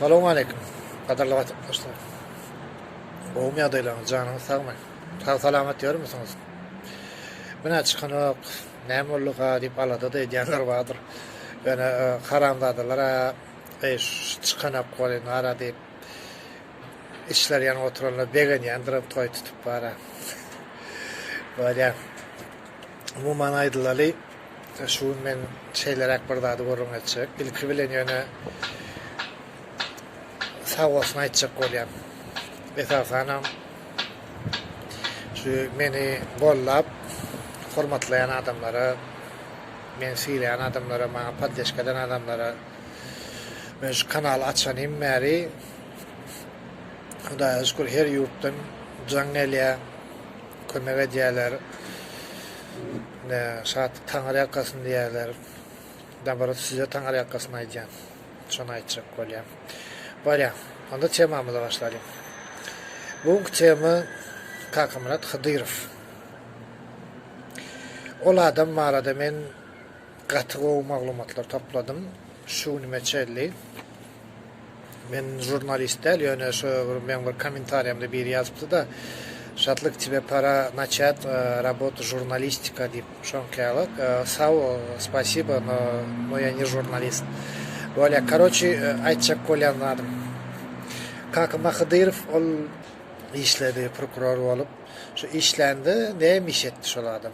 Salowmaleýkim. Gadyrly watandaşlar. Gowumy ýagdaýlaryňyz, janyňyz sagmy? Sag salamat ýörmüsiňiz? Günä çykanok, näme bolduka diýip alada-da edýänler bardyr. Ýöne haramzadalar-a eý şu çykanok bol indi ara diýip içleri ýanyp oturanlar begenýändiram toý tutup bara. Bolýa. Umuman aýdylaly, şu gün men şeýleräk bir zady gürrüň etjek. Ilki bilen ýöne sag bolsun aýtjak bolýan. Esasanam şu meni gollap, hormatlaýan adamlara, meni sylaýan adamlara, maňa poddeşka eden adamlara. Men şu kanaly açanym bäri Hudaýa şükür her ýurtdan jaň gelýär. Kömek edýärler. Ine, Şatlyk taňyrýakasyn diýýärler. Naborot, size taňyrýakasyny aýdýan. Şony aýtjak bolýan. Barýan. Onda temamyza başlalyň. Bu günki tema Kakamyrat Hydyrow. Ol adam barada men Gaty gowy maglumatlar topladym şu günime çelli. Men jurnalist däl ýöne şu bir meň bir komentariýamda biri ýazypdyda Şatlyk тебе pora naçat rabot žurnalistika diýip şoňkaýalak sag bol spasiba no no ýa ne žurnalist bolýa karoçi aýtjak bolýan zadym kaka mahadyrow ol işledi prokuror bolup şu işlände näme iş etdi şol adam.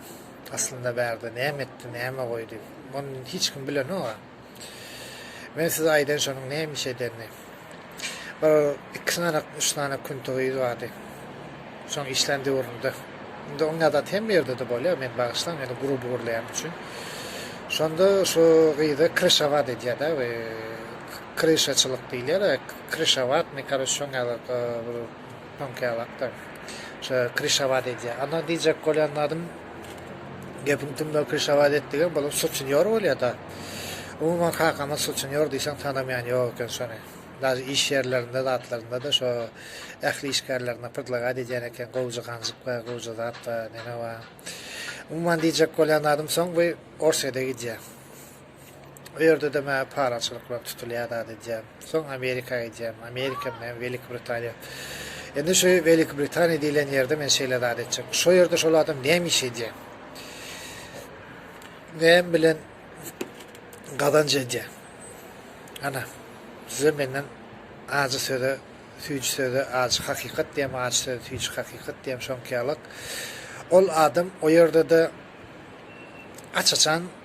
Aslynda bärde näme etdi, näme goýdy, muny hiç kim bilenok-a. Men size aýdaýyn şonuň näme iş edenini. Bir iki sany, üç sany küntigiz bardy. Şoň işlän döwründe. Indi oň adaty hemme ýerde-de bolýar, meni bagyşlaň, ýöne gruby gurlaýan üçin. Şonda şu gyza kryşawat edýär-de, kryşaçylyk diýilýär-ä, kryşawatnyý, karoç, şoň ýaly bir Soň käwagtlar şo Krişawat edýär. Ana diýjek bolýan zadym, gepiň tümüni Krişawat etdigem bolum suçinýor bolýa-da. Umuman kakama suçinýor diýseň tanamaýan ýok eken şony. Daži iş ýerlerinde zatlarynda-da şo ähli işgärlerine prdlagat edýän eken, gowja ganjyk bar, gowja zat bar, neme bar. Umuman diýjek bolýan zadym soň bu Orsýede gidýär. O ýerde-de maňa paraçylyk bilen tutulýar zat edýän. Soň Amerika gidýän. Amerika bilen Welik Britaniýa. Indi şu Welik Britaniýa diýlen ýerde men şeýle zat etjek. Şo ýerde şol adam näme iş edýär? Näme bilen gazanç edýär? Ana, size menden ajy söze, süýji söze, ajy hakykat diýem, ajy söze, süýji hakykat diýem, şoňky ýalyk. Ol adam o ýerde-de aç-açan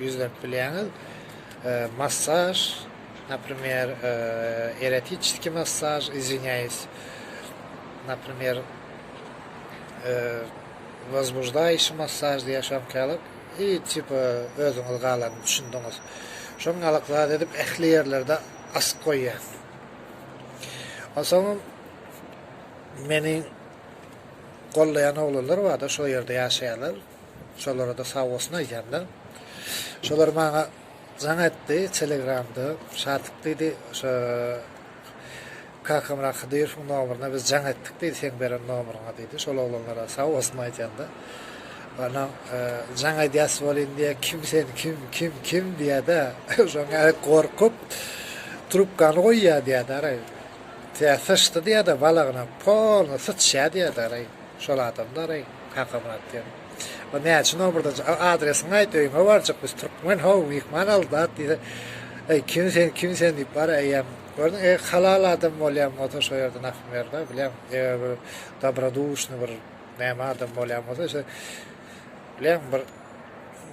Ýüzläp bilýäňiz. Massaž, naprimer, erotiçeskiý massaž, izwinýaýys, naprimer, wozbuždaýşi massaž diýýär şoňkalyk. I tipa özüňiz galanyny düşündiňiz. Şoňňalyk zat edip ähli ýerlerde asyp goýýar. Onsoňam meni gollaýan oglanlar bar-da, şol ýerde ýaşaýarlar. Şolara-da sag bolsun aýdýan-da. Şolar maňa jaň etdi telegramda. Şatyk diýdi, şo Kakamyrat Hydyrowyň nomeryna biz jaň etdik diýdi, seň beren nomeryňa diýdi. Şol oglanlara sag bolsun aýdýan-da. Ana, jaň edýäs bolýyn diýýä, kim sen, kim, kim, kim diýýä-de, şoň ýaly gorkup, trubkany goýýa diýýä-de araý. Tä syçdy diýýä-de balagyna, polny syçýa diýýä-de araý. Şol adamdy araý Kakamyrat diýen. O näçe nomerden çy-, A, adresiňi aýt, öýüňe barjak biz, türkmen how, myhman al zat diýse, Eý, kim sen, kim sen diýip bar eýýäm. Gördüň, eý, halal adam bolýan bolsa şo ýerden akyp ber-de, bilýäň, eger bir dobroduşnyý bir näme adam bolýan bolsa şe, bilýäň, bir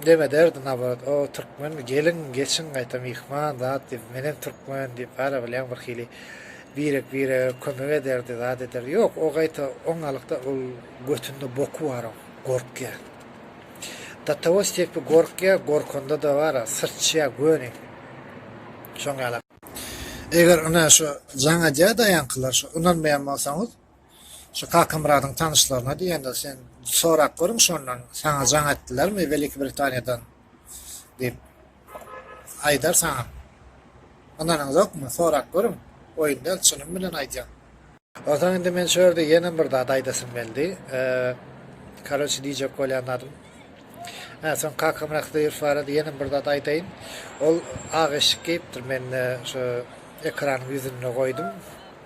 neme derdi naborot, O, türkmenmi, geliň, geçiň gaýta myhman zat diýip, menem türkmen diýip bar-a, bilýäň, birhili Birek-birege kömek ederdi, zat ederdi. Ýok, o gaýta oňalykda ol götünde boky bar oň, gorkýar. Do togo stepi gorkýar, gorkanda-da bar-a, syrçýar göni. Şoň ýala. Eger ine şu jaň edýär-daýankylar, şu ynanmaýan bolsaňyz, Şu Kakamyradyň tanyşlaryna diýende, sen sorap görüň şondan, saňa jaň etdilermi Weliki Britaniýadan diýip. Aýdar saňa. Ynanyňzokmy? Sorap görüň. Oýun däl, çynym bilen aýdýan. Onsoň indi men şu ýerde ýene bir zat aýdasym geldi. Karoçi diýjek bolýan zadym. Hä, soň Kakamyrat Hydyrow barada ýene bir zat aýdaýyn. Ol ak eşik geýipdir, men şu ekranyň ýüzünde goýdum.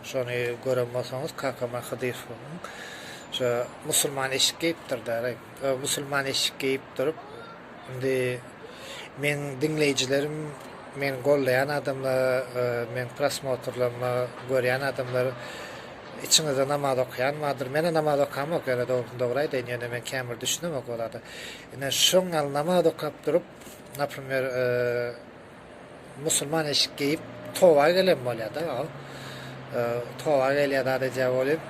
Şony gören bolsaňyz kakama Hydyfowyň şo musulman eşik geýipdir däri. Ö musulman eşik geýip durup indi meň diňleýjilerim meni gollaýan adamlar e, meň prosmotrlarymy görýän adamlar içiňizde namaz okaýan bardyr. Menä namaz okamok ýöne dogrusyny dogry aýdaýyn ýöne men kämir düşünemok o zada. Ine şoň al namaz okap durup, naprimýer, e, Musulman eşik geýip toba gelen bolýada ol. Toba gelýada adajä bolup.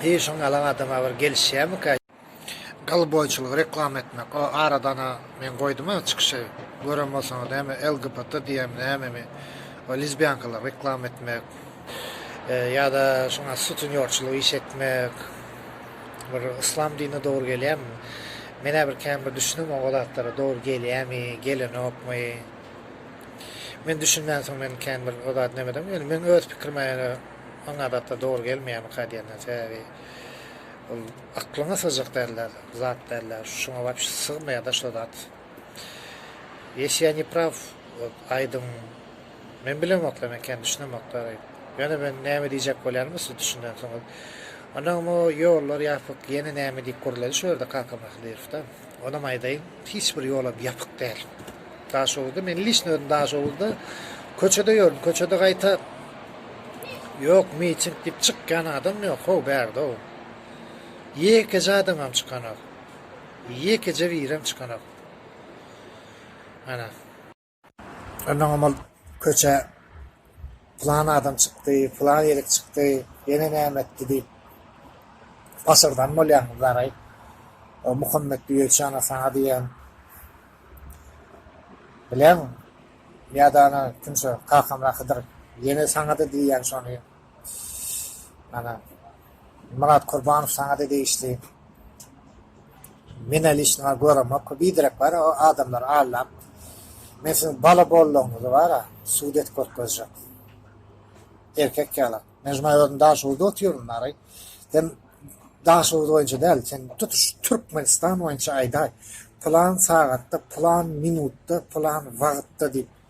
Eý şoň ýalan adama bir gelişýämika. Gyl boýçulygy reklama etmek o aradana men goýduma çykyşy gören bolsaňyz näme LGBT diýýämi nämemi o lizbiankalary reklama etmek ýada şuňa sutunýorçylyk iş etmek. bir yslam dinine dogry gelýärmi? Men-ä bir kän bir düşünemok o zatlara dogry gelýämi, gelenokmy. Men düşünmänsoň men kän bir o zady nämedim. Ýöne meň öz pikirime ýöne oňa zatlar dogry gelmeýärmika diýenden sebäbi ol aklyňa sygjak däldir, zat däldir. Şuňa wapşe sygmaýar-da şo zat. Ýesi ýa nepraw aýdyň. Men bilemokda, men kän düşünemokda, diýip. Ýöne men näme diýjek bolýanymy siz düşünensiňiz. Onam o ýollar ýapyk, ýene näme diýip gürledi şu ýerde kaka Mahdyrowda. Onam aýdaýyn, hiç bir ýolam ýapyk däl. Daşoguzda, men lişni özüm Daşoguzda köçede ýördüm, köçede gaýta ýok, miting diýip çykýan adam ýok, ho, bärde-ow. Ýekeje adamam çykanok. Ýekeje birem çykanok. Ana. Onnoňam ol köçä pylan adam çykdy, pylan ýerik çykdy, ýene näme etdi diýip pasyrdan bolýaňyz daraý. O Muhammet Düýeçana saňa diýen bileň ýa-da ony kimse kakamla Hydyr ýene saňa-da diýýän şony Myrat Kurbanow saňada degişli. Menä lişnowa göremok. Biderek bar o adamlar allap. Men siziň bala bollugyňyzy bara sud edip görkezjek. Erkek ýaly. Men şumaý özüm Daşoguzda otyryn bary. Sen Daşoguz boýunça däl, sen tutuş Türkmenistan boýunça aýdaý. Pylan sagatda, pylan minutda, pylan wagtda diýip.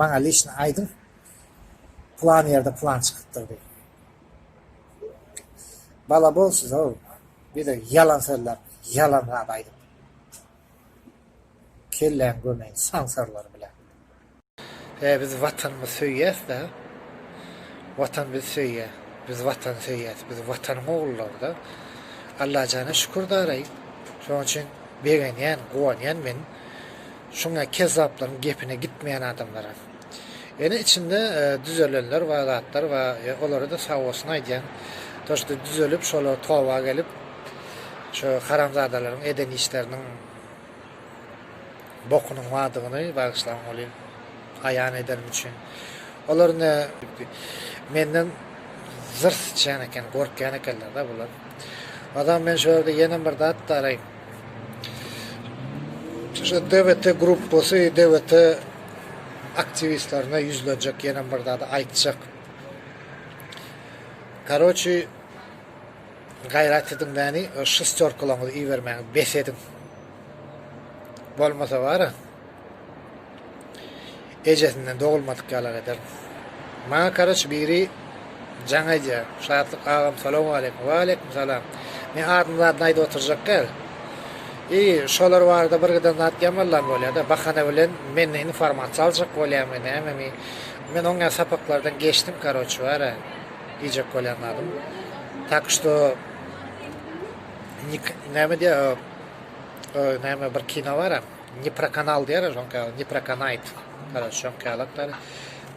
Maňa lişni aýdyň, plan ýerde plan çykypdyr diýip. Bala bol siz-ow, bize ýalan sözler, ýalan zat aýdyp, kelläň gömeýin sansarlar bilen. He biz watanymyzy söýýäs-dä. Watan bizi söýýär. Biz watany söýýäs. Biz watanyň ogullary-da. Allajana şükür daraý. Şonuň üçin begenýän, guwanýan men. Şuňa kezzaplaryň gepine gitmeýän adamlara. Ýöne içinde düzelenler bar zatlar bar ýa olara-da sagbolsun aýdýan. To şda düzelip şolar toba gelip şu haramzadalaryň eden işleriniň bokunyň bardygyny bagyşlaň oly aýan ederim üçin. Olar ne menden zyr syçýan eken gorkýan ekenler-da bular. Adam men şu ýerde ýenem bir zat daraýyn. Şu DWT gruppasy DWT aktiwistlerine ýüzlenjek ýene bir zady aýtjak. Karoçi gaýrat ediň bäni şestýorkalaňyzy ibermäni bes ediň. Bolmasa bara. Ejesinden dogulmadyk ýalak eder. Maňa karaç biri jaň aýdýar. Şatlyk agam salowmaleýkim. Waleýkim salam. Men adyny zadyny aýdyp oturjak däl. I şolar barada bir giden zat ýamallam bolýada. Bahana bilen menden informasiýa aljak bolýamy nämemi. Men oňa sapaklardan geçdim karoç bar a diýjek bolýan zadym. Tak şto nik näme diýýär o näme bir kino bar a. Neprokanal diýer şoňka neprokanait garaz şoňkalak garaz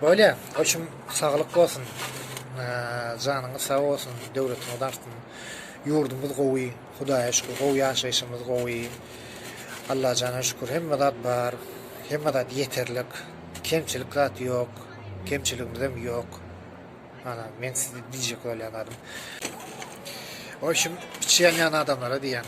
bolýa oçum saglyk bolsun janyňyz sag bolsun döwletiňiz artsyn ýurdumyz gowy hudaýa şükür gowy ýaşaýşymyz gowy Allajana şükür hemme zat bar hemme zat ýeterlik kemçilik zat ýok kemçiligimizem ýok ana men size diýjek bolýan zadym oçum içi ýanýan adamlara diýýän